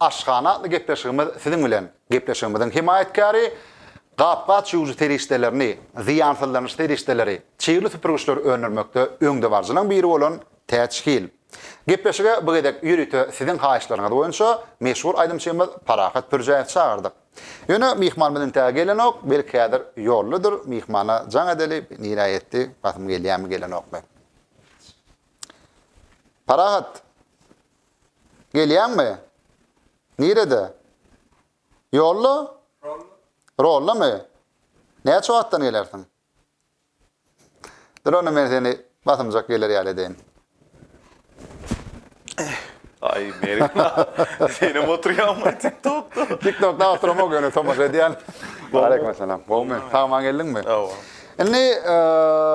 Aşhana atly gepleşigimiz siziň bilen. Gepleşigimiziň hemaýatkäri Gap-gaç ýuwujy serişdelerini, zyýansyzlanyş serişdeleri, çygly süpürgiçleri öndürmekde öňdebaryjylaryň biri bolan Täç Hil. Gepleşige bu gezek ýörite siziň haýyşlaryňyz boýunça meşhur aýdymçymyz Parahat Pürjäýewi çagyrdyk. Ýöne myhmanymyz entäge gelenok, belki häzir ýoldadyr, myhmana jaň edeli, nirä ýetdi, basym gelýärmi, gelenokmy. Parahat! Gelýäňmi? Nirede? Ýolda? Rollamy? Näçe wagtdan gelersiň? Dur onda men seni basymjak geler ýaly edeýin. Aý, Mergen aga, senem oturýaňmy TikTokda? TikTokda oturamok, ýöne tomaşa edýän. Aleýkumessalam. Gowmy? Sag-aman geldiňmi? Hawa. Indi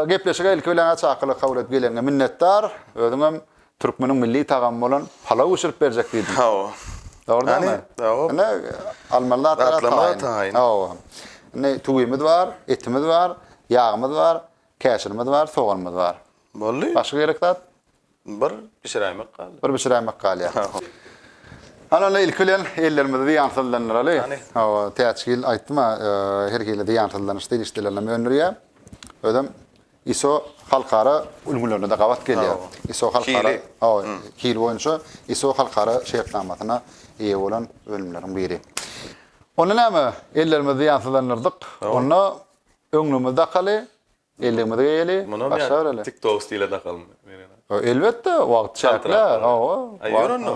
gepleşige ilki bilen çakylyk kabul edip geleniňe minnetdar. Özüňem Türkmeniň milli tagamy bolan palaw bişirip berjek diýdiň. Hawa. Dogrudanmy? Hawa. Ine, almaly zatlara taýyn. Hawa. Indi tüwimiz bar, etimiz bar, ýagymyz bar, käşirimiz bar, soganymyz bar. Boldy. Başga gerek zat? Bir bişiräýmek galýar. Bir bişiräýmek galýar. Hawa. Hany onda ilki bilen ellerimizi zyýansyzlandyraly. Hany. Hawa, Täçgil aýtdym-a, her hili zyýansyzlanyş serişdelerini hem öndürýär. Özem ISO halkara ülňülerine-de gabat gelýär. ISO halkara hili boýunça ISO halkara şertnamasyna eýe bolan önümleriň biri. Onda näme, ellerimizi zyýansyzlandyrdyk. Onda öňlügimizi dakaly, elligimizi geýeli, başga bir ele. TikTok stile dakalymy Meren aga? Elbetde, wagt çäkli. Hawa. Aý ýör onda.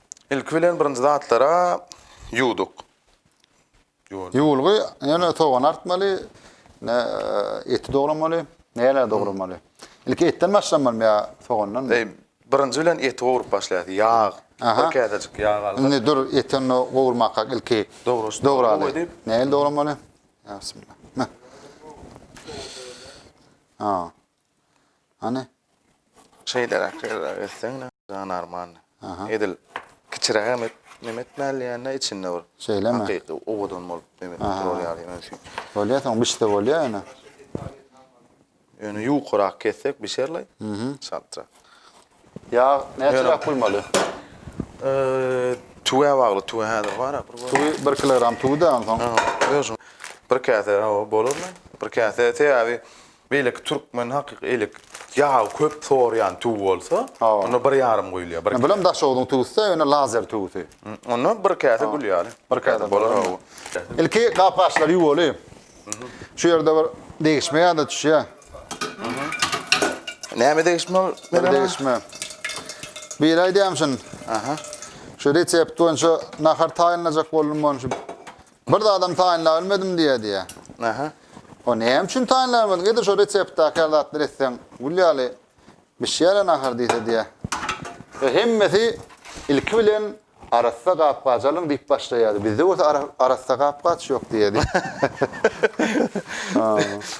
Ilki bilen birinji zatlara ýuwduk. Ýuwalýar. Ýuwulgy ýöne sogany artmaly, ne e, eti dogramaly, näler dogramaly. Ilki etden başlamalymy ýa sogandanmy? Eý, birinji bilen eti gowrup başlaýas. Ýag, Aha. bir käsejik ýag alyp. Indi dur eti onda gowurmakak ilki Dograş- dograly. dogra edip. Nähili dogramaly? Ýa bismillah. Heh. Ha. Hany? Şeýleräk ýerräk etseň janarman. Edil kiçirägem et, neme etmäli ýa-da içinde bir. Şeýlemi? Hakyky owadan bolup neme durur ýaly ýöne şu. Bolýar, soň bişse bolýar ýöne. Ýöne ýukarak kessek bişerli. Saltrak. Ýag näçeräk bolmaly? Tüwä bagly, tüwä häzir barak bir. Tüwi 1 kilogram tüwi-de onsoň. Özüň bir käse hawa bolarmy? Bir käse sebäbi beýleki türkmen hakyky elek ýagy köp sorýan tüwi bolsa, onda bir ýarym guýulýar. Bir bilen Daşogzuň tüwüsi-de ýöne lazer tüwüsi. Onda bir käse gülýär. Bir käse bolar. Ilki gap-gaçlary ýuwaly. Şu ýerde bir degişme ýa-da düşýär. Näme degişme ol? Bir Mergen aga? degişme. Bir aýdýam şun. Aha. Şu resept boýunça nahar taýynlajak boldum ony şu. Bir zadam taýynlap bilmedim diýýär diýýär. Aha. O näme üçin taýynlap bilmediň? Edil şu reseptdäki her zatlar etseň, gül ýaly Bişýärä nahar diýse diýýä. Ýa hemmesi ilki bilen arassa gap-gaç alyň diýip başlaýardy. Bizde bolsa arassa gap-gaç ýok diýýärdi.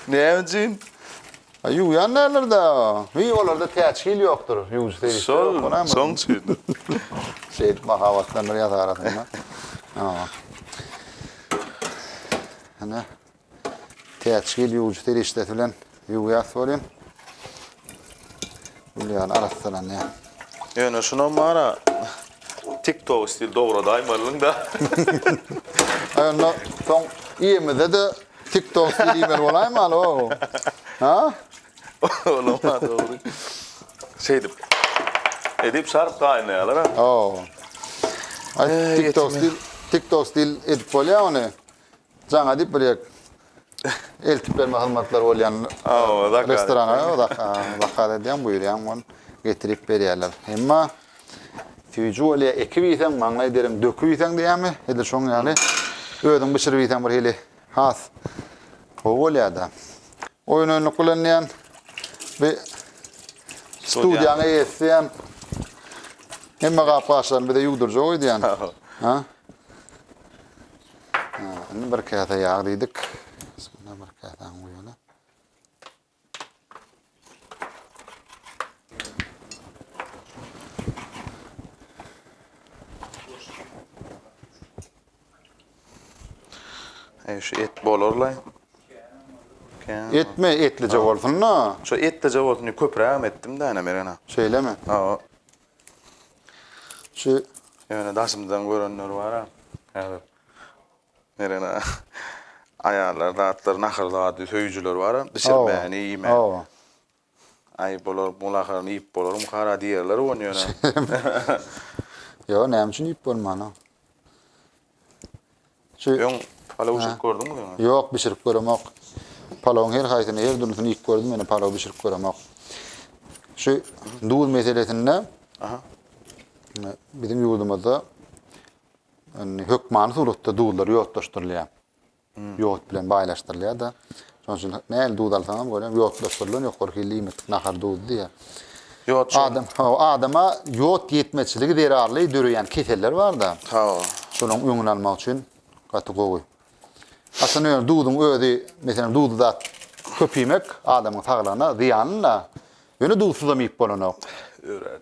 Näme üçin? Ýuwýan däldir-dä. Wiý, olarda täçgil ýokdur. Ýuwujy serişde ýok bolanmy? Şol, şoň üçindir. Şeýdip mahabatlandyryas arasyny. Hana. Täçgil ýuwujy serişdesi bilen ýuwýas welin, gül ýaly arassalanýar. Ýöne şunam bar-a, TikTok stil dogradyýmeliň-dä. Aý onda soň iýemizde-de TikTok stil iýmeli bolaýmaly, o-o. Ha? Olam-a dogry. Şeýdip, edip şart gaýnaýarlar-a. O-o. Aý, TikTok stil, TikTok stil edip bolýa ony. Jaňa diýip bir ýek eltip berme hyzmatlary bolýan restorana zakaz edýän, buýurýan, ol getirip berýärler. Emma süýji bolýa, ekip iýseň, maňlaý derin döküp iýseň diýýärmi, edil şoň ýaly özüň bişirip iýseň bir hili has gowy bolýar-da. Oýun-oýunlyk bilen diýen bir studiýanyň eýesi diýen hemme gap-gaçlaryny bize ýuwdurjak öýdýän. Ha? Indi bir käse ýag diýdik. Bismillah bir käsäni guýaly. Eý şu et bolarlaý. Etme etlije bolsun da. Şu etlije bolsun diýip köprägem etdim-de ana Mergen aga. Şeýlemi? Hawa. Şu ýöne daşymdan görenler bar-a, häzir Merene aýallar zatlar nahar zady söýüjiler bar-a, bişirmäni, iýmäni. Hawa. Aý, bular bu naharyny iýip bolarmyka-a diýerler ony ýöne. Ýok, näme üçin iýip bolman-a? Şu Öň palaw bişirip gördüňmi öňe? Ýok, bişirip göremok. Palawyň her haýsyny, her dürlüsini iýip gördüm, ýöne palaw bişirip göremok. Şu duz meselesinde Aha. e, biziň ýurdumyzda indi hökmany suratda duzlar ýodlaşdyrylýar. ýod bilen baýlaşdyrylýar-da. Şonuň üçin nähili duz alsaň hem görýän ýodlaşdyrylan ýokary hilli iýmitlik nahar duzy diýýär. Ýod şu. Adam, hawa, adama ýod ýetmezçiligi zerarly döreýän keseller bar-da. Hawa. Şolaryň öňüni almak üçin gaty gowy. Aslynda ýöne duzuň özi, meselem, duzly zat köp iýmek adamyň saglygyna zyýanly-da. Ýöne duzsuzam iýip bolanok. Örän.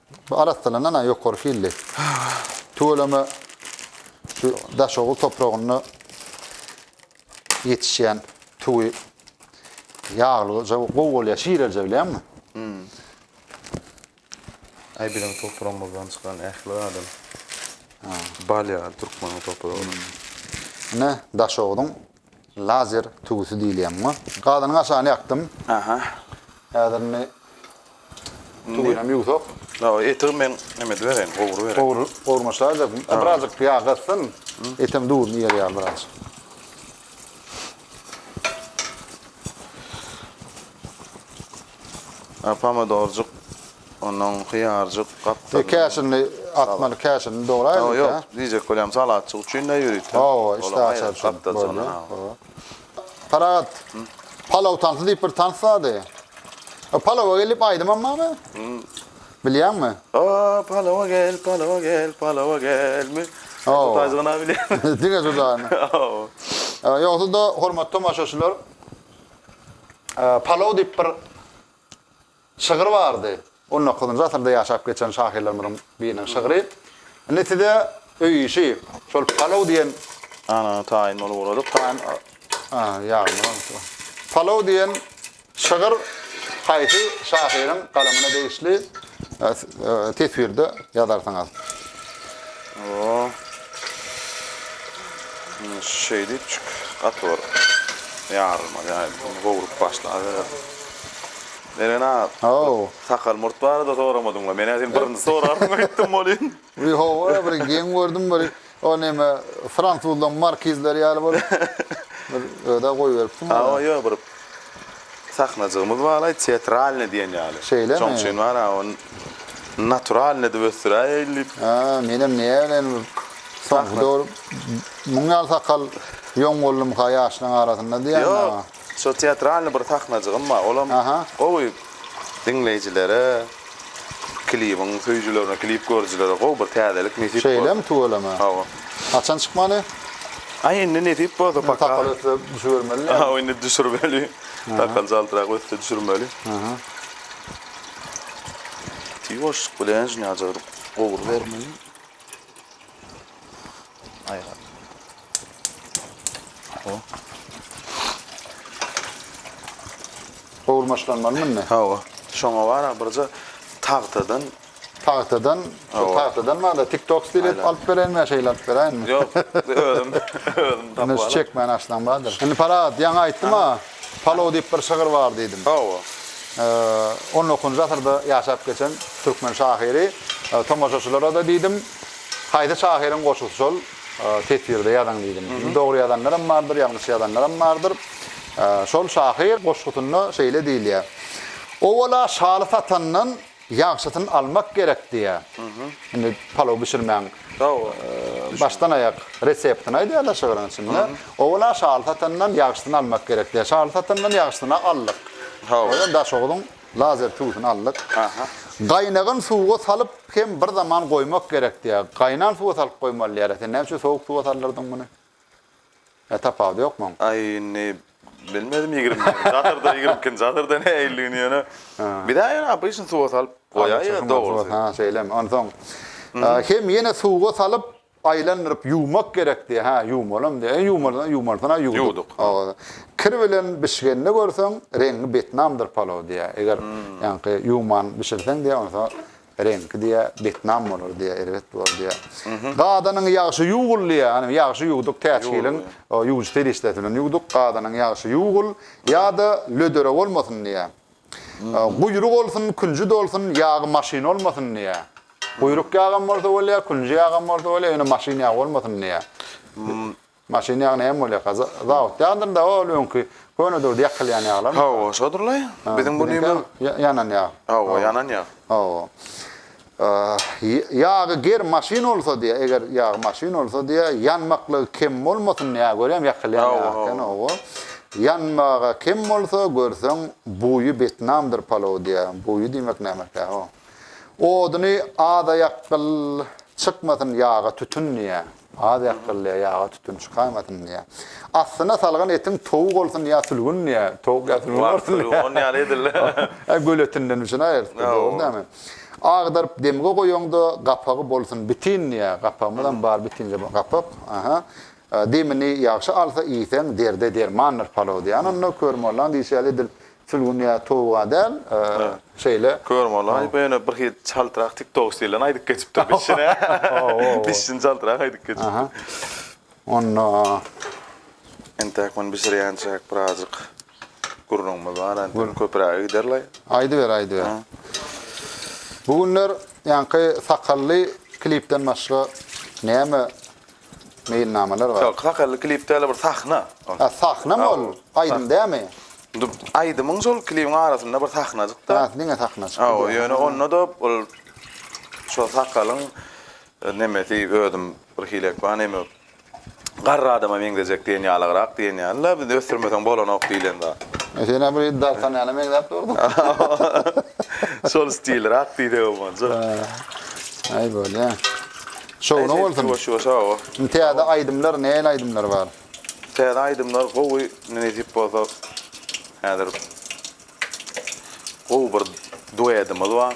Bu arassalanan-a ýokary hilli. Tüweleme şu Daşoguz topragynda ýetişýän tüwi ýaglyja gowy bolýar, şirelje bilýäňmi? Aý biziň topragymyzdan çykan ähli adam bal ýaly türkmeniň topragyna. Ine, Daşoguzyň Lazer tüwüsi diýilýär muňa. Gazynyň aşagyny ýakdym. Aha. Häzir indi tüwünem ýuwsak. Hawa, eti men näme edibereýin, gowurybereýin. Gowur, gowurma şaýyljak. Birazjyk ýag gatsyn, etem duzuny iýer ýaly birazjyk. Pomidorjyk Ondan hyýarjyk, gapdalyndan. Käşini atmaly, käşini dograýlyk. Ýok, ýok, diýjek bolýarym, salatjyk üçin-de ýörite. Hawa, işdä açar üçin. Gapdaljagyna, hawa. Parahat, palaw tansy diýip bir tans bardy. O palawa gel diýip aýdymam barmy? Bilýäňmi? O, palawa gel, palawa gel, palawa gelmi? Hawa. Tutaýjygyna bilýän. Diňe judagyny. Hawa. Ýogsa-da, hormatly tomaşaçylar, palaw diýip bir. Şygyr bardy. On dokuzynjy asyrda ýaşap geçen şahyrlarymyzyň biriniň şygry. Indi size öý işi, şol palow diýen. Ana, taýyn bolup ugradyk. Taýyn. Aha, ýagny bolupdyr. Palow diýen şygyr haýsy şahyryň galamyna degişli, teswirde ýazarsyňyz. O. Indi şeýdipjik, gaty bir ýarylmaly ýaly, gowrup başlabereris. Meren aga, Haw. sakal murt barada soramadyň-la. Men-ä seni birinji sorarsyň aýtdym welin. Bi hawa, bir geň gördüm, bir o näme, fransuzlaryň markizleri ýaly bolup, bir öz-ä goýberipsiň. Hawa, ýok, bir sahnajygymyz bar-aý, teatralnyý diýen ýaly. Şeýlemi? Şoň üçin bar-a, ony naturalnyý edip ösdüräýeýin diýip. Hä, menem näme bilen bir soňky döwür muň ýaly sakal ýoň boldumyka ýaşlaryň arasynda diýýän-ä. Ýok. Şo teatralny bir sahnajygym bar. Olam gowy diňleýjilere, klibiň söýüjilerine, klip görüjilere gowy bir täzelik nesip boldy. Şeýlemi, tüweleme. Hawa. Haçan çykmaly? Aý, indi nesip bolsa paka. Takal össe düşübermeli. Hawa, indi düşürmeli. Takal jaldyrak össe düşürmeli. Tiz boşluk bilen şuny ajyk gowyrybermeli. Aýga. O. Gowurmaçlanmaly mende. Hawa. Şoňa bara birje tagtadan Tagtadan, Hawa. tagtadan bada TikTok stil edip Aýla. alyp bereýinmi ýa şeýle alyp beräýinmi? Ýok, özüm özüm Indi tapyp şu alyp. çekmän açsaň bardyr. Indi Parahat, ýaňy aýtdym-a, palow diýip bir şygyr bar diýdim. Hawa. Eee, on dokuzynjy asyrda ýaşap geçen türkmen şahyry. Eee, Tomaşaçylara-da diýdim. Haýsy şahyryň goşgusy şol teswirde ýazaň diýdim. Indi dogry ýazanlaram bardyr, ýalňyş ýazanlaram bardyr. Şol şahyr goşgusynda şeýle diýilýär. Owala şaly satandan ýagşysyny almak gerek diýýär. Indi palaw bişirmäň. Başdan aýak reseptini aýdýar da şygryň içinde. Owala şaly satandan ýagşysyny almak gerek diýýär. Şaly satandan ýagşysyny aldyk. Daşoguzyň Lazer tüwüsini aldyk. Gaýnagan suwa salyp hem bir zaman goýmak gerek diýýär. Gaýnan suwa salyp goýmaly diýýär. E sen näme üçin sowuk suwa saldyrdyň muny? E tapawudy ýokmy oň? Aý indi bilmedim ýigrimi birinji asyrda ýigrimi ikinji asyrda nähilligini ýöne bizä ýöne obyçny suwa salyp goýaýýa dogrusy. Ha şeýlemi? Onsoň hem ýene suwa salyp Aýlandyryp ýuwmak gerekdi. Hä, ýuwmalam diýýär. E, ýuwmalydan ýuwmalysyna ýuwduk. Kir bilen bişgenini görseň, reňňi betnamdyr palaw diýýär. Eger, ýaňky, ýuwman bişirseň diýýär, onsoň reňki diýýär, betnam bolar diýýär, erbet bolar diýýär. Gadanyň ýagşy ýuwgul diýýär. Hany, ýagşy ýuwduk, täçgiliň ýuwujy serişdesi bilen ýuwduk. Gadanyň ýagşy ýuwgul, ýa-da lödere bolmasyn diýýär. Guýruk olsun, künji dolsun, ýagy maşyn olmasyn diýýär. Guýruk ýagam bolsa bolýar, künji ýagam bolsa bolýar, ýöne maşyn ýagy bolmasyn diýýär. Maşyn ýagy näme bolýarka? Zawod ýagdyrynda ol öňki köne döwürde ýakylýan ýaglar. Hawa, şodurlaý. Biziň bu nime? Ýanan ýag. Hawa, ýanan ýag. Hawa. Ýagy ger maşyn bolsa diýä eger ýagy maşyn bolsa diýä ýanmaklygy kem bolmasyn diýä görýäň ýakylýan ýag eken owo ýanmaga kem bolsa görseň buýy betnamdyr palow diýä buýy diýmek nämekä o oduny azaýakgyl çykmasyn ýaga tütün diýä. Az ýakdyrylýar, ýaga tütün çykarmasyn diýýär. Astyna salgan etiň towuk bolsun ýa sülgün diýýär. Towuk ýa sülgün bolsun diýýär. Wah, sülgün, on ýaly edil. Hä, göl etinden üçin aýyrtdy, dogry dämi? Agdaryp demge goýaňda, gapagy bolsun bitin diýýär. Gapagymyzam bar, bitinje bu gapak. Aha. Demini ýagşy alsa iýseň, derde dermandyr palaw diýýär. Onda kör mollaň diýşi ýaly edil Sülgün ýa towuga däl şeýle. Kör molaý bu ýöne birhili çaltrak tik tok stilinde aýdyp geçipdir dişine. Dişini çaltrak aýdyp geçipdir. Onda. Entäk muny bişirýänçäk birazjyk gürrüňimiz bar entek köpüräge gider laý. Aýdyber aýdyber. Bu günler ýaňky sakally klipden başga näme Meýilnamalar bar. Sakally klip däl bir sahna. Ha sahnamy ol? Aýdym dämi? Indi aýdymyň şol klibiň arasynda bir sahnajykda. Ha diňe sahnajyk. Hawa ýöne onda-da ol şo sakalyň nemesi özüm bir hilek bar neme garry adama meňzejek diýen ýalygrak diýen ýaly la biz ösdürmeseň bolanok diýlen zat. E senem bir Dartanýana meňzäp durdyň. Şol stilrak diýsegem boljak. Aý bolýa. Şowuna bolsun. Indi täze aýdymlar näl aýdymlar bar. Täze aýdymlar gowy indi nesip bolsa häzir gowy bir duedimiz bar.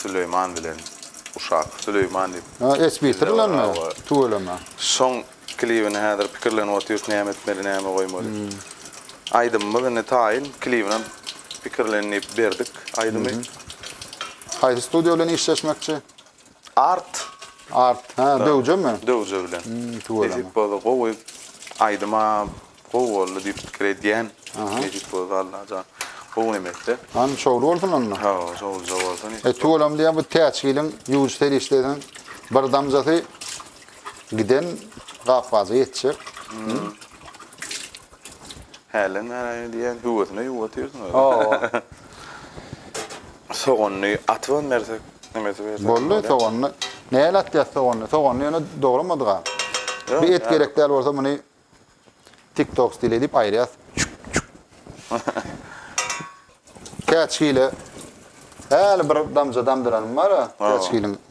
Süleýman bilen Uşak Süleýman diýip. Ha Esbitr bilenmi? Tüweleme. Şoň klibini häzir pikirlenip otyrs näme etmeli näme goýmaly. Aýdymymyz indi taýyn klibinem pikirlenip berdik aýdymy. Haýsy studio bilen işleşmekçi? Art. Art. Ha, döwjemi? Döwje bilen. Tüweleme. boldy, gowy aýdym-a, gowy boldy diýip pikir edýän. Nejip boldy Allajan. Gowy emekde. Hany şowly bolsun onda. Hawa, şowlyja bolsun. E, tüweleme diýýän bu täçgiliň ýuwujy serişdesiniň bir damjasy giden gapgaja ýetjek. Hälden bäri diýýän, höwesine ýuwup otyrsyň. Hawa. Soganyny atyban bersek nemesi bersek bolýar. Boldy soganyny näle atýas soganyny soganyny ýöne dogramadyga. Bir et gerek däl bolsa muny tik tok stili edip aýyrýas çuk çuk. Käçgili häli bir damja damdyranym bar käçgiliň.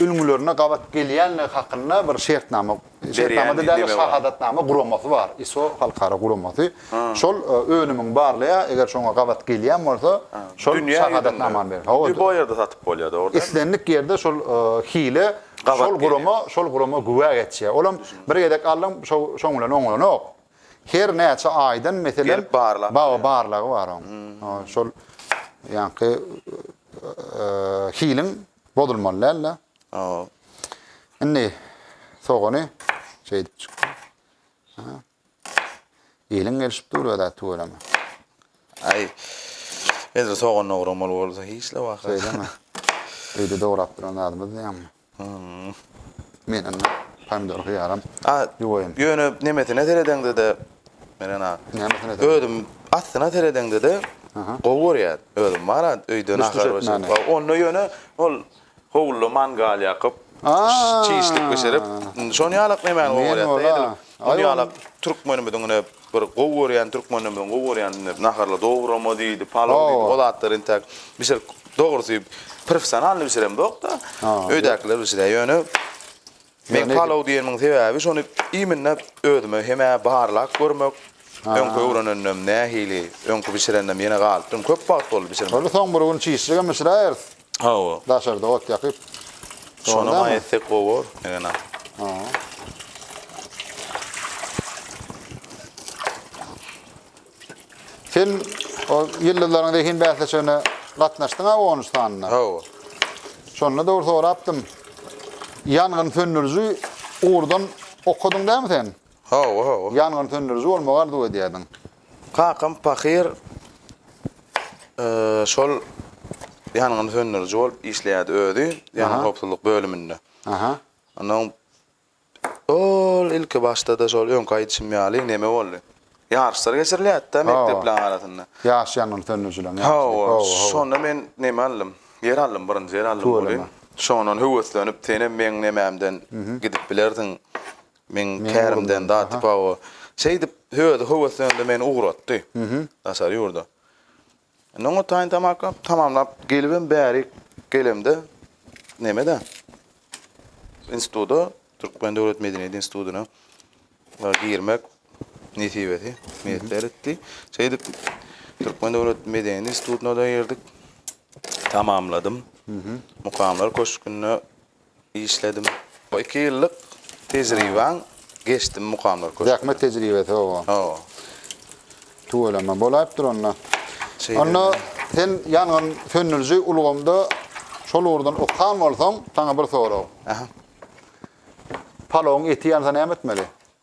ülňülerine gabat gelýändigi hakynda bir şertnama, şertnama-da däl-de, şahadatnama guramasy bar, ISO halkara guramasy. Şol önümiňi barlaýar, eger şoňa gabat gelýän bolsa, şol şahadatnamany berer. Dünýä ýüzünde bu ýerde satyp bolýar, dogry dälmi? Islendik ýerde şol hile şol gurama, şol gurama güwä geçýär. Olam bir gezek aldyň, şoň bilen oňlanok. Her näçe aýdan meselem baga barlagy bar oň. Şol ýaňky hiliň bozulmaly däl-de. Indi sogany şeýdip çykdy. Eliň gelişip dur ödä tüweleme. Ay. Edil sogan dogramaly bolsa hiç de waka. Söyleme. Öýde dograp duran adymyz näme? Men indi pomidor hyýaram ýuwaýyn. Ýöne nemesine seredeňde-de, Meren aga. Nämesine seredeňde? Özüm astyna seredeňde-de gowy görýän. Özüm bar a öýde nahar bişirip. Onda ýöne ol howluda mangal ýakyp, çişlik bişirip, şon ýalak nemäni gowy görýäs-de edil. Ol ýalak türkmenimiziň ine Bir gowy görýän türkmenimiziň gowy görýän indi naharly dograma diýdi, palaw diýdi, o zatlary intäk bişirip, dogrusy professionalnyý bişiremzok-da, öýdäkiler bişirýär. Ýöne men palaw diýenimiň sebäbi şony iýminde özüme hem-ä barlap görmek, öňki öwrenenimem nähili, öňki bişirenimem ýene galypdyrmy, köp wagt boldy bişirmän. Ony soň bir gün çişjegem bişiräýeris. Hawa. Daşarda ot ýakyp. Şonam aý etsek gowy bor, Egenan. Hawa. Sen o ýyldyzlaryň zehin bäsleşigine gatnaşdyň-a on üç sanyna. Hawa. Şonda dogry sorapdym. Ýangyn söndüriji ugurdan okadyň dämi sen? Hawa, hawa. Ýangyn söndüriji bolmagy arzuw edýärdiň. Kakam pahyr şol ýangyny söndüriji bolup işleýärdi özi, ýangyn howpsuzlyk bölüminde. Aha. Ondan ol ilki başda-da şol öňki aýdyşym ýaly neme boldy. Ýaryşlar geçirilýärdi-de mekdepleriň arasynda. Ýaş ýangyn söndürijileriň ýaryşy. Şonda men neme aldym? Ýer aldym, birinji ýer aldym welin, şondan höweslenip, senem meň nemämden gidip bilersiň, Meň kärimden daty pawo. Şeýdip, özi höweslendi, meni ugratdy. Daşary ýurda. Indi oňa taýyn tamaka tamamlap gelibem bäri gelemde, neme-de, instituta, Türkmen döwlet medeniýet institutyna girmek nesibesi miýesser etdi. Şeýdip, Türkmen döwlet medeniýet institutyna-da girdik. Tamamladym. Mukamlar köşgünde işledim. Bu iki ýyllyk tejribaň geçdim mukamlar köşgüne. Zähmet tejribesi hawa. Hawa. Tüweleme bolaýypdyr onda. Şeýle. Onda sen ýangyn söndüriji ulgamda şol ugurdan okan bolsaň, saňa bir sorag. Aha. Palawyň eti ýansa näme etmeli?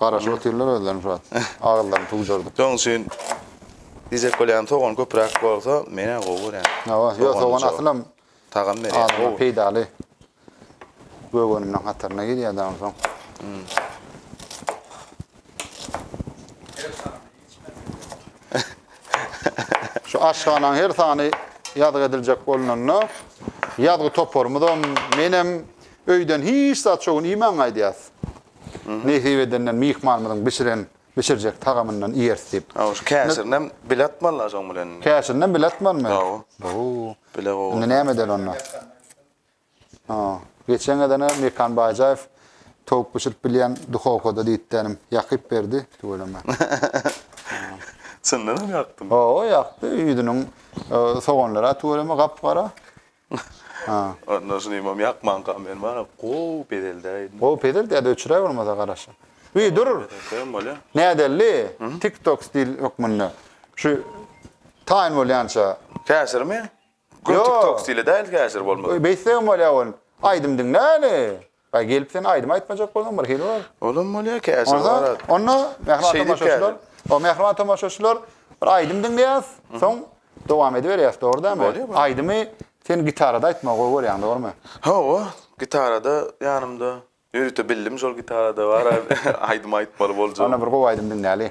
Garaşyp otyrlar özlerini şu wagt. Agyzlaryny tugjardyp. Şonuň üçin diýjek bolýan sogan köpräk bolsa menä gowy görýän. Hawa, ýok sogan asylam tagam berýär. Adama peýdaly. Göwüniniň hataryna girýär dagy onsoň. Şu aşhananyň her sany ýazgy ediljek bolnanda ýazgy toparymyzam, menem öýden hiç zat şu gün iýmän gaýdýas. Nesip edende myhmanymyzyň bişiren, bişirjek tagamyndan iýeris diýip. Hawa, şu käşirinem bile atmaly-la şoň bilen indi. Käşirinem bile atmalymy? Hawa. Bo-o. Bile gowy. Indi näme edeli onda? Ha, geçen gezene Mekan Baýjaýew towuk bişirip bilýän duhowkada diýipdi inim. Ýakyp berdi, tüweleme. Çyndanam ýakdymy? Hawa, ýakdy. Ýüzüniň soganlary-a tüweleme gap-gara. Onda şunymam ýakmanka men bana gowy pezeldä indi. Gowy pezeldä öçüre bolmasa garaşa. Wi dur. Nädeli? TikTok stil hökmünde. Şu taýyn bolýança. Täsirmi? Gör TikTok stili däl täsir bolmasa. Beýtsegem bolýa ol. Aýdym diňläli. Baý gelip sen aýdym aýtmajak bolsaň bir hili bol. Olam bolýa käşir bar. Onda mähriban tomaşaçylar, o mähriban tomaşaçylar bir aýdym diňleýäs, soň dowam ediberýäs dogry dämi? Aýdymy sen gitarada aýtmagy gowy görýäň dogrymy? Hawa, gitarada ýanymda ýörite bildim şol gitarada bar aýdym aýtmaly boljak. Onda bir gowy aýdym diňläli.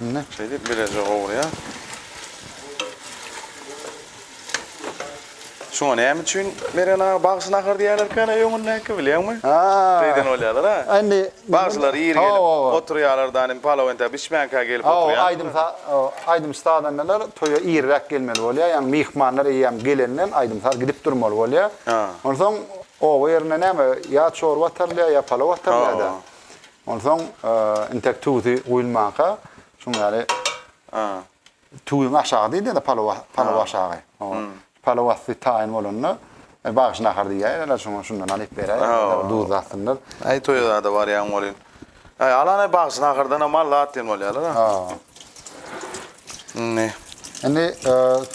Indi şeýdip bileje gowurýar. Şuňa näme üçin Meren aga bagşy nahar diýýärlerkä ne öňündäki bilýäňmi? Beýden bolýarlar ha. Indi bagşylar ýeri gelip oturýarlar da indi palawenta bişmänkä gelip oturýar. Hawa aýdym aýdym sazandalar toýa irräk gelmeli bolýar. Ýagny myhmanlar eýýäm gelenden aýdym saz gidip durmaly bolýar. Onsoň oba ýerinde näme ýa çorba atarylýar ýa palaw atarylýar da. Onsoň intek tuzy guýulmanka şuň ýaly tuzuň aşagy diýilýär-de palawa, palaw aşagy. Palaw asty taýyn bolanda bagşy nahar diýýärler şoňa şundan alyp beräýerler, duz atsynlar. Aý toýa-da barýan bolýan. Aý alany bagşy nahardan-a mally at diýen bolýarlar-a. Indi. Indi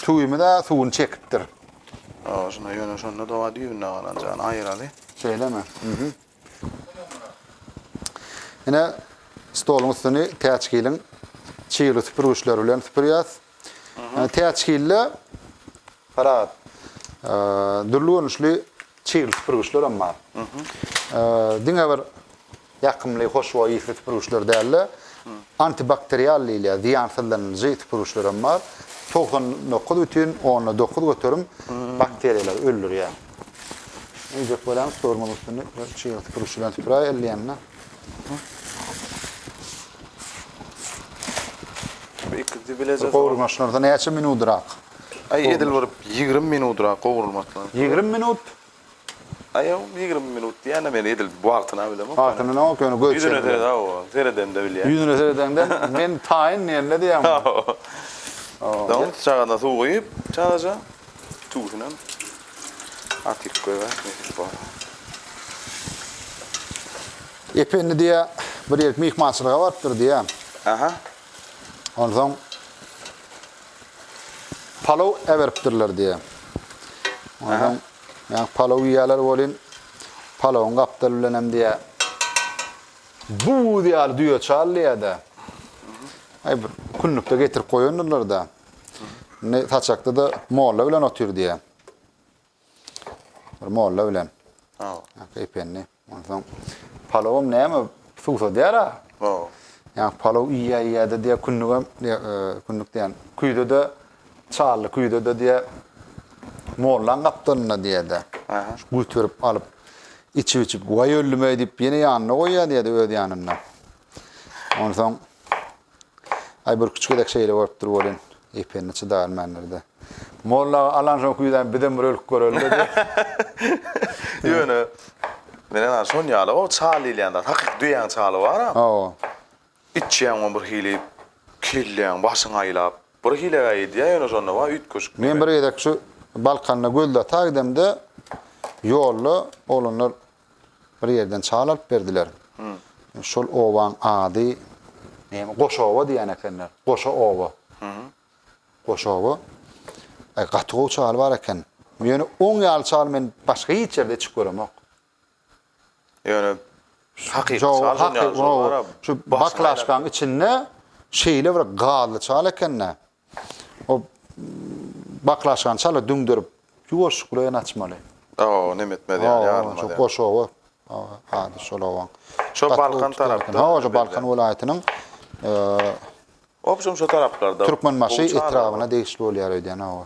tuzymyz-a suwuny çekipdir. Awa şunda ýöne şonda-da düýbünden galan jany aýyraly. Şeýlemi? Ine, stoluň üstüni täçgiliň çygly süpürgiçleri bilen süpürýäs. Ýöne täçgilde parahat dürli görnüşli çygly süpürgiçler hem bar. Diňe bir ýakymly, hoşboý ysly süpürgiçler däl-de, antibakterial diýilýär, zyýansyzlanyjy süpürgiçler hem bar. Togsan dokuz bütin onda dokuz göterim bakteriýalary öldürýär. Eýjek bolan stolumyň üstünde çyýr süpürgüç bilen süpüräý elleýände. Iki dibilejek. Gowurmaşlarda näçe minudrak? Aý edil bir 20 minudrak gowurulmasyna. 20 minut? Aý 20 minut diýäne men edil wagtyna bilemok. Wagtyna näme yok ýöne göçe. Ýüzüne serede o, seredende bilýän. Ýüzüne seredende men taýyn diýende diýýäň. Hawa. Daň çagana suw guýup, çagaja. Tüwünüňem atyp goýber nesip bolsa. Ependi diýýär, bir ýerik myhmançylyga barypdyr diýýär. Aha. Onsoň palow äberipdirler diýýär. Onsoň ýa palow iýýärler welin, palowyň gapdaly bilenem diýýär, buz ýaly düýe çal diýýär-de. Aý bir künlükde getirip goýandyrlar-da. Indi saçakda-da molla bilen otyr diýä. Bir molla bilen. Ha. Ependi. Onsoň palawym näme suwsadýar-a? Ha. Ýa palaw iýä-iýä-de diýä kündügem, e, kündük diýen, küýde-de çally küýde-de diýä mollaň gapdalynda diýä-de. Aha. Göterip alyp, içip-içip, waý öldüm-eý diýip, ýene ýanyna goýýar diýä-de öz ýanynda. Onsoň Aý bir küçük gezek şeýle bolupdyr welin, Ependi çydarmandyr-da. Molla aga alan soň küýzäni bizem bir ölüp göreli-le diýip. Ýöne, men ynha şon ýaly o çal diýilýän zat. Hakyky düýäň çaly bar-a. Hawa. Içýäň ony bir hili, kelläň, başyň aýlap. Bir hilegäý edýär ýöne şonda bar üýtgeşik diýmek. Men bir gezek şu Balkanda Göldata gidemde, ýolda oglanlar Bir ýerden çal alyp berdiler. Şol obaň ady näme, Goşoba diýen ekenler. Goşa oba. Goşoba. Aý, gaty gowy çal bar eken. Ýöne oň ýaly çaly men başga hiç ýerde içip göremok. Ýöne hakyky çal dünýäniň şol bar-a. Şu baklažkaň içinde şeýle bir gazly çal eken-dä. O baklaşkany çala düňderip, ýuwaşlyk bilen açmaly. Hawa, nem etmez ýaly, ýarylmaz ýaly. Hawa, şu goşawy, ady şol owaň. Şo Balkan tarapda. Hawa, şu Balkan welaýatynyň. Obşem şo taraplarda. Türkmenbaşy etrabyna degişli bolýar öýdýän, hawa.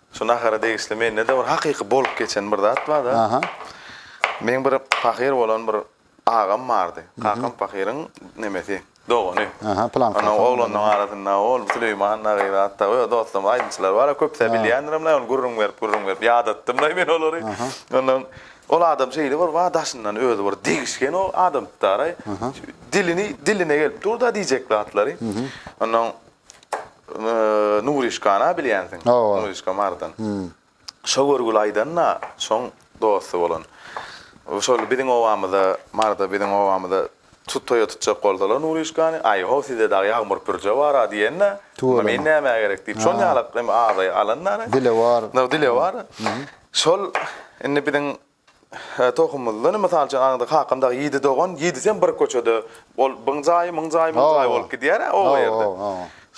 Şu nahara degişli mende-de bir hakyky bolup geçen bir zat bar-da. Aha. Meň bir pahyr bolan bir agam bardy. Kakam pahyryň nemesi, dogany. Aha, plan kakam. Onuň oglanlarynyň arasynda ol Süleýman agyr atda öz dostlarymyz aýdymçylar bar-a, köp-ä bilýändirim-le, ony gürrüň berip, gürrüň berip ýadatdym-laý men olary. Ondan ol adam şeýle bir bar, daşyndan özi bir degişgen o adamtdar-aý. Dilini, diline gelip dur-da diýjek zatlary. Ondan Nuryşkana bilýänsiň. Nuryşka Mardan. Şo görgüli aýdanda şoň dosty bolan. Şol biziň obamyza, Marda biziň obamyza tut toýa tutjak bolsalar Nuryşkany, aý ho sizde dagy ýagmyr pürje bar-a diýende, onda men nämä gerek diýip, şol ýalak hem azaýy alanda. Dilewar. Dilewar. Şol indi biziň Tohumyzda, ine, mysal üçin, aňyrda kakam dagy ýedi dogan, ýedisem bir köçede, ol biň jaýy, myň jaýy, müň jaýy bolup gidýär-ä oba ýerde.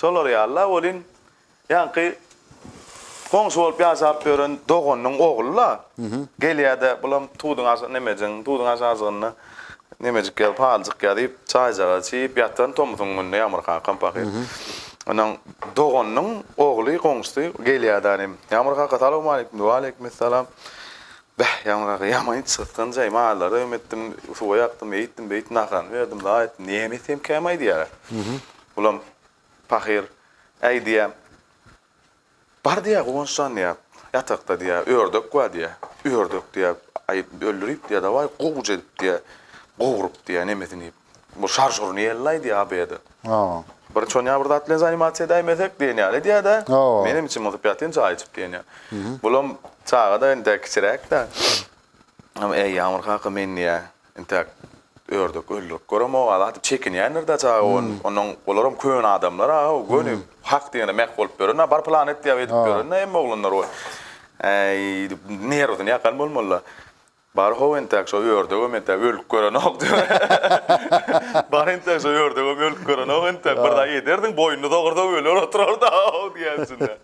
Şolar ýaly-la, welin, ýaňky goňşy bolup ýaşap ýören doganynyň ogly-la, gelýär-de, bulam tuduň aşa, nemejigiň tuduň aşajygynda nemejik ýa-da paljyk ýa diýip, çaýjagaz çiýip ýatan tomusyň gününe Ýagmyr kakam pahyr. Onuň doganynyň ogly, goňşusy gelýär-de, Ýagmyr kaka, salowmaleýkim diýip, waleýkimessalam. Beh, ýaňragy ýamaýyn çytgan jaý, mallary öm etdim, suwa ýakdym, eýtdim, beýtdim, naharany berdim, la aýtdym, näme etseýem käm aýdýar-a. Bulam pahyr, Äý, diýýär, bar diýýär, Guwanç jan diýýär, ýatakda diýýär, ördek bar diýýär, ördek diýýär, aýyp öldürip diýýär, dawaý, gowja edip diýýär, gowrup diýýär, nemesini iýip. Bu şarşur niyelini aýdýa ABD. Hawa. Bir çonýa bir zat bilen zanimasiýa edäýmesek diýen ýaly edýädä. Hawa. Menem içim gysyp ýatyn çaý içip diýen ýaly. Bulam çagada indi kiçiräkdä. Ama äý Ýagmyr kaka men diýä intäk ördek öldürip göremog-a zat diýip çekinýändirdä çaga on onuň olaram köne adamlar aga o göni hak diýene mäh bolup ýörenä bar plan et diýäp edip ýörenä hemme oglanlar o äý diýip nerwsini ýakan bolmalyda. Bar how entäk şo ördegem entäk ölüp görenok diýip. Bar entäk şo ördegem ölüp görenok entäk bir zat ederdiň boýnuny dogursam öler oturardy how diýýän içinde.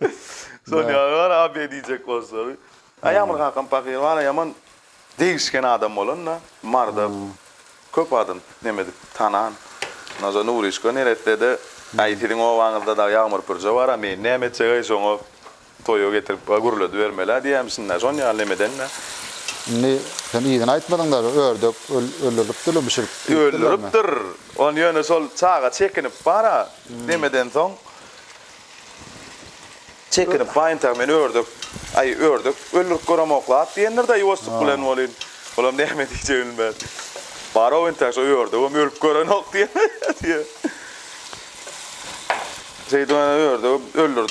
Şony ýaly bar a be diýjek bolsaň. Aýamyr kakam pahyr bar a ýaman degişgen adam bolan da marda köp adam neme edip tanan. Ondan soň Nuryşka neresede aý siziň obaňyzda dagy Ýagmyr pürje bar a meýin näme etjek aý şoňa. Toýa getirip a gürledibermeli-ä diýýämişsin-dä, şon ýaly nemeden-dä. Indi sen yzyny aýtmadyň-da, ördek öldürlipdir-le, bişirip iýipdirlermi? Öldüripdir. Ony ýöne şol çaga çekinip bar-a, nemedensoň, çekinip bar, entäk men ördek, aý, ördek öldürip göremok-la at diýendir-dä, ýuwaşjyk bilen welin, olam näme diýjegini bilmän, Bar-ow, entäk şo ördegem ölüp görenok diýen diýýär. Şeýdip, ana, ördegem öldürip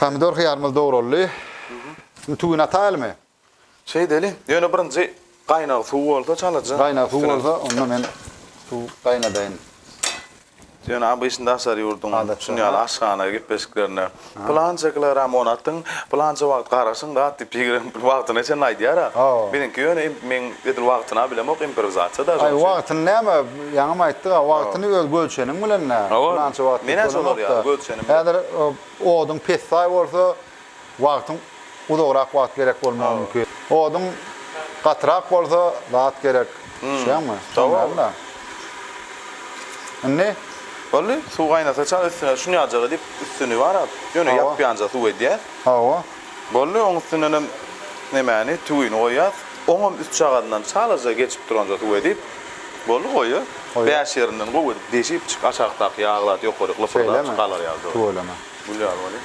Pomidor hyýarymyz dograldy. Indi tüwini ataýalymy? Şeýdeli. Ýöne birinji gaýnag suw bolsa çalaja. Gaýnag suw bolsa, onda men suw gaýnadaýyn. Ýöne ABŞ-da daşary ýurduň şuny ýaly aşhana gepleşiklerinde pylança kilogram un atyň, pylança wagt garaşyň dat diýip ýigren wagtyna çenli aýdýar-a. Biziňki ýöne men edil wagtyny-a bilemok, improwizasiýa daşy. Aý wagtyny näme? Ýaňam aýtdyk-a, wagtyny öz gölçeniň bilen-le, pylança wagt diýip bolanok-da. Häzir oduň pessaý bolsa, wagtyň uzagrak wagt gerek bolmagy mümkin. Oduň gatyrak bolsa, zat gerek. Düşýäňmi? Şonuň ýaly-da. Indi? Boldy. Suw gaýnasa çal üstüne şuny ýaljala diýip, üstüni barap, ýöne ýapýanja suw edýär. Hawa. Boldy, oň üstündenem nemäni, tüwini goýýas. Oňam üstjagazyndan çalaja geçip duranja tüw edip, boldy, goýa. Bäş ýerinden gowy edip deşip, çyk, aşakdaky ýagy zat ýokaryk lypyrdap çyk galar ýaly dogry. Tüweleme. Gül ýaly bolýa.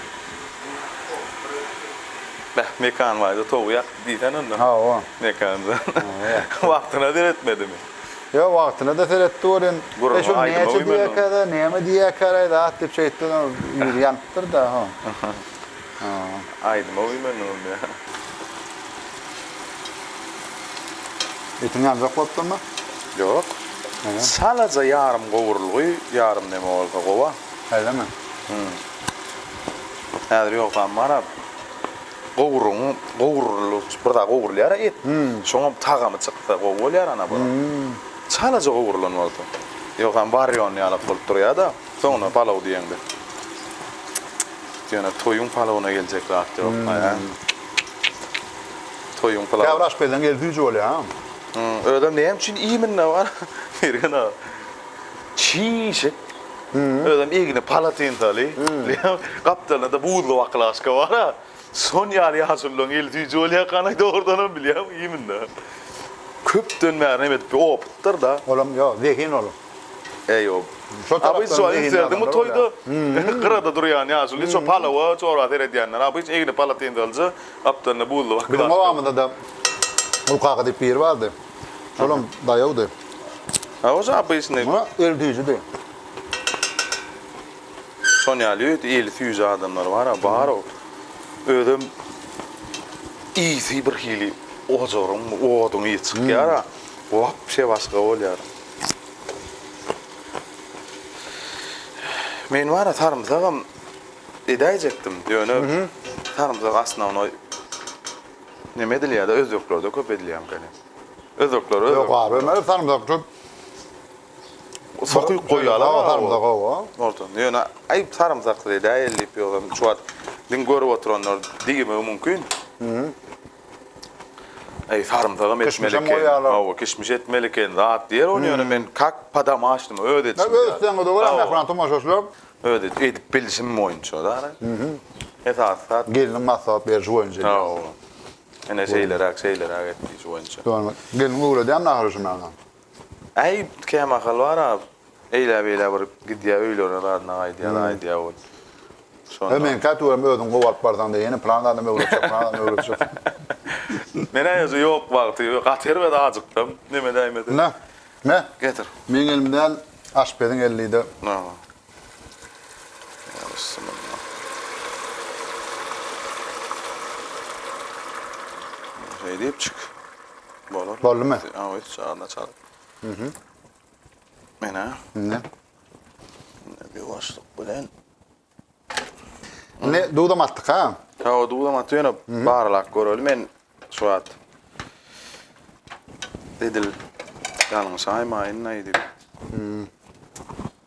Beh, Mekan baýda towugy ýakdy diýsene onda. Hawa. Mekanjan. Wagtyna seretmedimi? Ýok, wagtyna-da seretdi welin, e, şol näçe diýýäkä-da, näme diýýäkä-raý zat diýip şeýtdi, ýüzi ýanypdyr-da, ho. Aýdyma güýmendiňiz mi? Etiň ýanjak bolupdyrmy? Ýok. Çalaja ýarym gowurylgy, ýarym neme bolsa gowa. Şeýlemi? Häzir ýogsam barab, gowurygyň gowurylyp, bir zat gowurylýar-a et. Şoňam tagamy çyksa gowy bolýar ana bir. Çalaja gowurylan bolsa. Ýogsam warýon ýalak bolup durýar-da. Soňra palaw diýeňde. Ýöne toýuň palawyna geljek zat ýok, hä? Toýuň palawy. Käbir aşpezleň eli süýji bolýar. Özem näme üçin iýminde bar? Mergen aga. Çişik. Özem igna palatinsaly. Gapdalynda-da buzly baklažka bar-a. Şon ýaly ýaşululaň eli süýji bolýarkan-aý dogrudanam bilýäňmi iýminde. Köpden bäri näme edip opytdyr-da. Olam ýok, zehin ol. Eýob. Şo tarapdan zehinli adamlar bolýar. Abyş gyrada durýan ýaşuly şo palawa çora seredýänler. Abyş egni palatinzalja gapdalynda buzly baky. Biziň obamyzda-da Gul kaka diýip biri bardy. Şolam daýawdy. Hawa şo Abyşny. Muňa el süýjidi. Şon ýaly öýt eli süýji adamlar bar-a, bar ol. Özem ysy birhili ojaryň, oduň ysy çykýar-a. Wapşe başga bolýar. Men bara sarymsagam edäýjekdim, ýöne sarymsak osnownoý neme edilýär-de, özbeklerde köp edilýärmikäni? Özbekler Ýok abi, men sarymsak köp sokyp goýýarlar ha sarymsak hawa. Ortany. Ýöne aýp sarymsaksyz edäýeli diýip ýogsam şu wagt diňe görüp oturanlar diýmegi mümkin. Eý sarymsagam etmeli eken. Kişmişem goýýarlar. Hawa, kişmiş etmeli eken zat diýer ony ýöne men kak padama açdym, öz edişim. Öz etseňiz-de bolar, mähriban tomaşaçylar. Öz edip, edip bilişim boýunça dara. Esasy zat. Gelniň maslahat berişi boýunça edýäs. Hawa. Ine şeýleräk, şeýleräk et diýişi boýunça. Ýöne gelniň öwredýän ahyry şu maňa. Äý, kämahal bar-a, eýläbeýlä bir gidýä öýlerine zadyna gaýdýa-da aýdýa ol. Şonda. Hä, meňkä tüweleme özüň gowy alyp barsaň-da, ýene pylan adam öwretjek, pylan adam öwretjek. Men-ä özü ýok wagty, gaty erbet ajykdym, neme däýmesin. Nä, nä? Getir. Meň elimden aşpeziň elli-de. Nä bar? Boldumy? Awa, hiç çaganda çal. Mhm. Mena. Ne? Ne bir başlyk bilen. Ne dudam atdyk ha? Ha, o dudam atdy ýöne barlak göreli men şu wagt. Edil ýalňyş aýmaýyn aýdyp.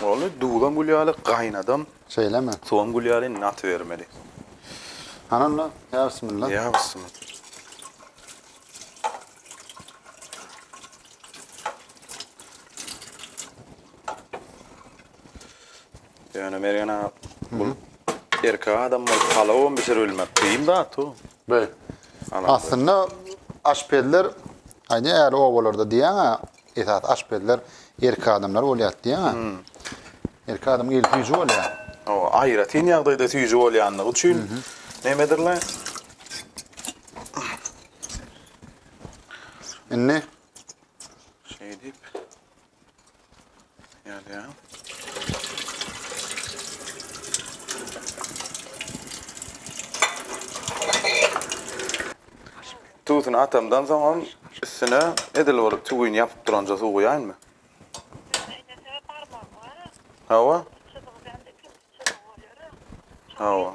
Boldy, duzam gül ýaly, gaýnadam. Şeýlemi? Suwam gül ýaly, indi atybermeli. Hany onda, ýa bismilla. Ýa bismilla. Ýöne Mergen aga, bu erkek adam bolup palawam bişiribilmek kyn zat-ow. Beý. Aslynda aşpezler, aýdýan ýaly obalarda diýýän-ä, esasy aşpezler erkek adamlar bolýar diýýäň-ä. Erkek adam gelip süýji bolýar. Hawa, aýratyn ýagdaýda süýji bolýandygy üçin nämedir-le? Indi şeýdip Duzuny atamdan soňam üstüne edil bolup tüwini ýapyp duranja suw guýaýynmy? Hawa. Hawa.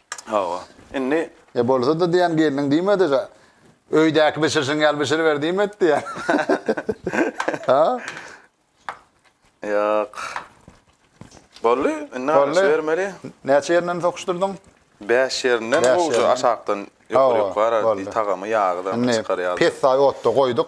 Hawa. Indi E bolsa-da diýen gelniň diýmedi ga. Öýdäki bişirşiň ýaly bişiriber diýmedi diýen. Ha? Ýok. Boldy. Indi Boldy. bermeli. Näçe ýerinden sokuşdyrdyň? Bäş ýerinden Bäş gowja ýerinden. aşakdan Hawa, ýokary-ýokary boldy. tagamy ýagy da Indi çykarýardy. pessaý otda goýduk.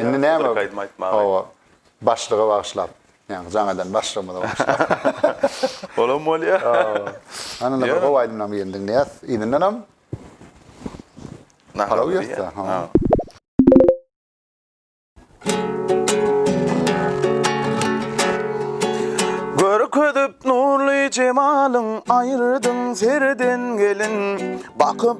Indi näme? Hawa, başlyga bagyşlap. Ýagny jaň eden başlygymyza bagyşlap. Olam bolýar. Hany indi bir gowy aýdymlaryň birini diňleýäs. Yzyndanam palaw ýörse. Görkezip nurly jemalyň, aýyrdyň serden gelin. Bakyp.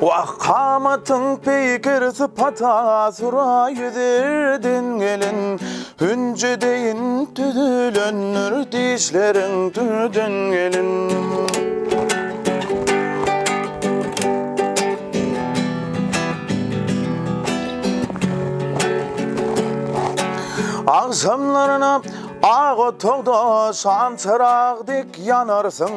Wah kamatyň pikir sypata Sura ýüzerden gelin Hünje deýin düzülendir Dişleriň türden gelin Agşamlaryna ak otagda şam çyrag dek ýanarsyň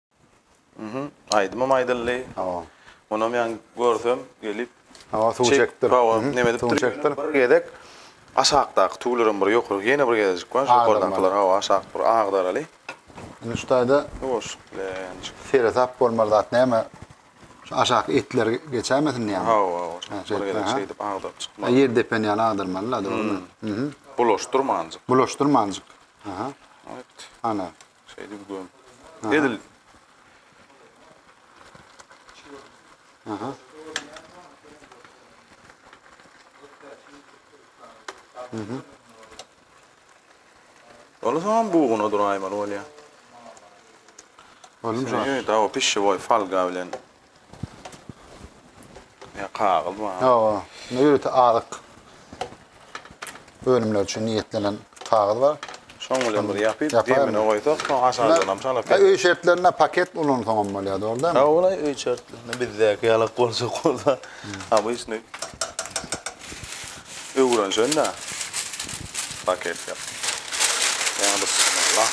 Mhm. Aýdymam aýdyldy. Hawa. Onam ýan görsem gelip. Hawa suw çekipdir. Hawa neme edipdir. Suw çekipdir. Bir gezek aşakdaky tüwlerem bir ýokarky ýene bir gezejik bar. Ýokardakylar hawa aşak bir agdaraly. Indi şu taýda Ýuwaşlyk bilen. Seresap bolmaly zat näme? Şu aşaky etler geçämesin diýýäňmi? Hawa hawa. Bir gezek şeýdip agdaryp çykmaly. Ýer depeni ýaly agdarmaly-la dogrymy? Mhm. Bulaşdyrmanjyk. Bulaşdyrmanjyk. Aha. Ana. Şeýle bir göm. Edil. Aha. Mhm. Ola soň buguna duraýmaly bolýar. Onuň Şeýle dawa pişşewoý falga bilen Ýa kagyz bar. Hawa. Indi ýörite azyk önümleri üçin niýetlenen kagyz bar. Şoň bilen bir ýapyp, Ýapaýmy? demine goýsak, soň aşagyndan hem çalyp Ha, öý şertlerinde paket ulansaň hem bolýar, dogry dälmi? Ha, ol-aý öý şertlerinde bizdäki ýalak boljak bolsa, obýçnyý. Öwrenşen-dä. Paket ýap. Ýa bismillah.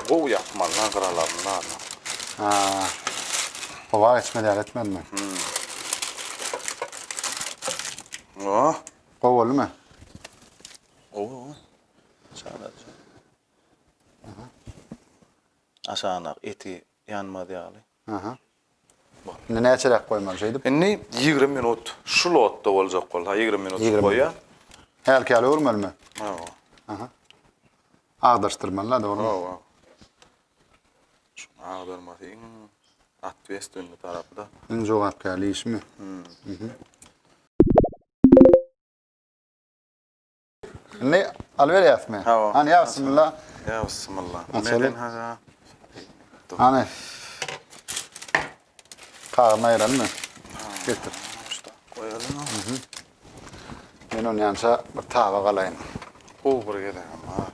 Gowy ýapmaly-la gyralaryny barna. Ha. Howa geçmeli ýaly etmelimi? Oh. Gowy boldumy? Gowy, gowy. Çalaja. Aha. Aşanak eti ýanmaz ýaly. Aha. Indi näçeräk goýmaly şeýdip? Indi ýigrimi minut şu lotda boljak bolsa ýigrimi minut goýa. Hälkäle öwürmelimi? Hawa. Aha. Agdaryşdyrmaly-da dogrymy? Hawa. Şuny agdarmasy iň atwestwenli tarapy-da. Iň jogapkärli işimi? Mhm. Ni alberýas mi? Hawa. Hani ya bismillah. Ya bismillah. Meden haja. Hani. Kagyny aýyraly mi? Getir. Goýaly mi? Men onu yanşa bir taba galaýyn. Gowy bir gezegem bar.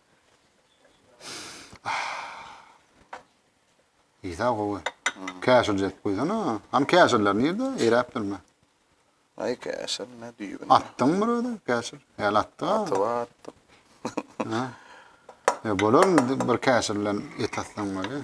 Ýa gowy. Käşir jep goýsana. Hany käşirler nirde? Eräp durma. Ay käşir ne düýbün. Atdyň bir özi käşir. Hel atdy. Atyp atdyk. Ha. E bolar bir käşir bilen et atsaň bolýar.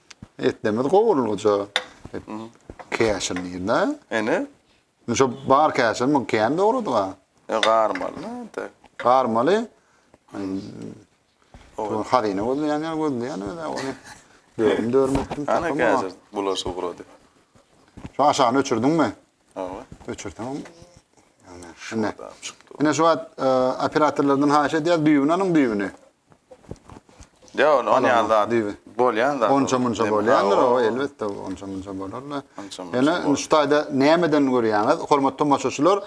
Etnemiz gowulgyja. Käşir nirde? Ene? Şu bar käşir mi? Kän dogrudyga. E, garmaly nirde? Garmaly. Şu hazine gözleýän ýa gözleýän öýde ony. Dörüm dörüm etdim. Ana käşir bulaş ugrady. Şu aşagyny öçürdiň mi? Hawa. Öçürdim. Ene. Ene şu wagt e, operatorlardan haýyş edýär düýbüni alyň düýbüni. Ýok, ol on ýaly zat bolýan zat. Onça-munça bolýandyr o, elbetde, onça-munça bolar-da. Ýöne şu taýda nämeden görýäňiz, hormatly tomaşaçylar,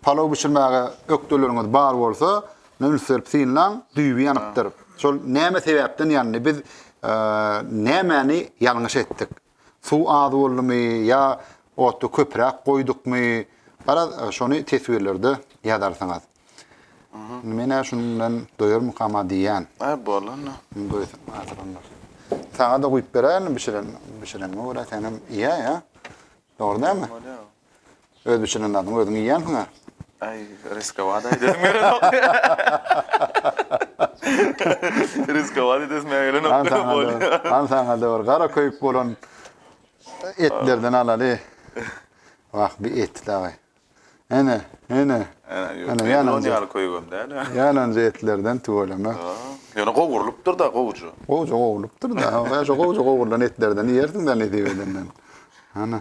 palaw bişirmäge ökdeleriňiz bar bolsa, üns berip synlaň, düýbi ýanypdyr. Şol näme sebäpden ýandy? Biz nämäni ýalňyş etdik? Suw az boldumy ýa oty köpräk goýdukmy garaz şony teswirlerde ýazarsyňyz. Menä şunuň bilen doýarmykama diýýän. Hä bolanda. Saňa-da guýup beräýerdim bişiren bişirenime görä senem iýä ýa. Dogry dälmi? Öz bişiren zadyňy özüň iýýänsiň-ä. Aý, riskowat aýdasym gelenok. Riskowat edesime gelenok. Han saňa bir, han saňa bir gara köýük bolan etlerden alaly. Wah, bir et dagy. Ene, ene. Ene, ýalan zat. Ýalan köýügem däl. Ýalan etlerden tüweleme. Ýöne gowrulypdyr-da gowja. Gowja gowrulypdyr-da. Şu gowja gowrulan etlerden iýersiň-dä nesip edenden. Hana.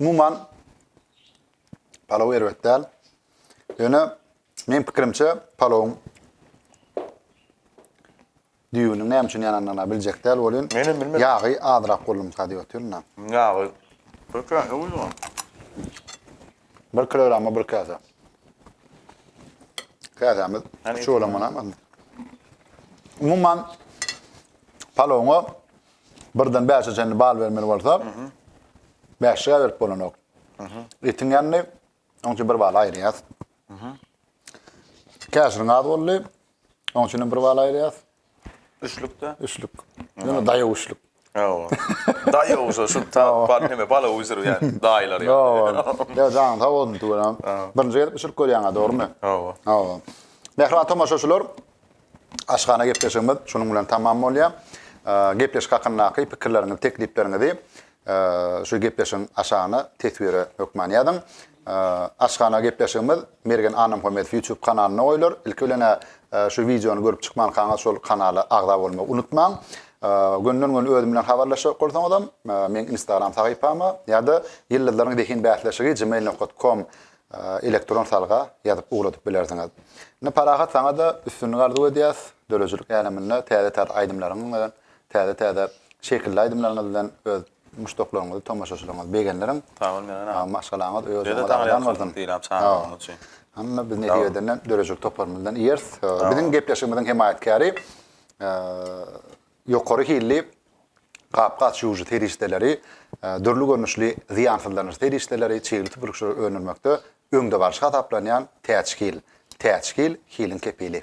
Umuman palaw erbet däl. Ýöne men pikirimçe palawyň düýbüniň näme üçin ýanandygyna biljek däl welin. Men hem bilmedim. Ýagy azrak boldumyka diýip otyryn-da. Ýagy. Bir käse guýdum. Bir kilograma bir käse. Käsämiz şu bolan bolanmy? Umuman palawyňa Birden bäşe çenli bal bermeli bolsa, bäşe berip bolanok. Etiň ýanyny, oň üçin bir bal aýyrýas. Käşirin az boldy, oň üçin bir bal aýyrýas. Üçlükde? Üçlük. Ýöne daýaw üçlük. Ýa-o. Daýaw şu şu bal hemme bala uýzur ýaly daýylar ýa. Ýa jaň sag bolsun tüwelem. Birinji gezip bişirip görýäňä dogrymy? Ýa-o. Ýa-o. Mähriban tomaşaçylar, Aşhana gepleşigimiz şunuň bilen tamam bolýar. Gepleşik hakyndaky pikirleriňizi, teklipleriňizi şu gepleşigiň aşagyna teswire hökman ýazyň. Aşhana gepleşigimiz Mergen Annamhamedow YouTube kanalynda goýlar. Ilki bilen şu wideony görüp çykmankaňyz şol kanala agza bolmagy unutmaň. Gönden-göni özüm bilen habarlaşjak bolsaňyzam, meň Instagram sahypama ýa-da Ýyldyzlaryň zehin bäsleşigi gmail nokta kom elektron salga ýazyp ugradyp bilersiňiz. Indi Parahat saňa-da üstünlik arzuw edýäs, döredijilik äleminde täze-täze aýdymlaryňyz bilen, täze-täze şekilli aýdymlaryňyz bilen öz muşdaklaryňyzy, tomaşaçylaryňyzy begendirin. Sag bol Mergen aga. Maşgalaňyz, öý ojagyňyz abadan bolsun. Diýlap çagyranyň üçin. Hany biz netijeden döredijilik toparymyzdan iýeris. Biziň gepleşigimiziň hemaýatkäri Ýokary hilli gap-gaç ýuwujy serişdeleri, dürli görnüşli zyýansyzlanyjy serişdeleri, çygly süpürgiçleri öndürmekde öňdebaryjy hasaplanýan Täçhil. Täçhil, hiliň kepili.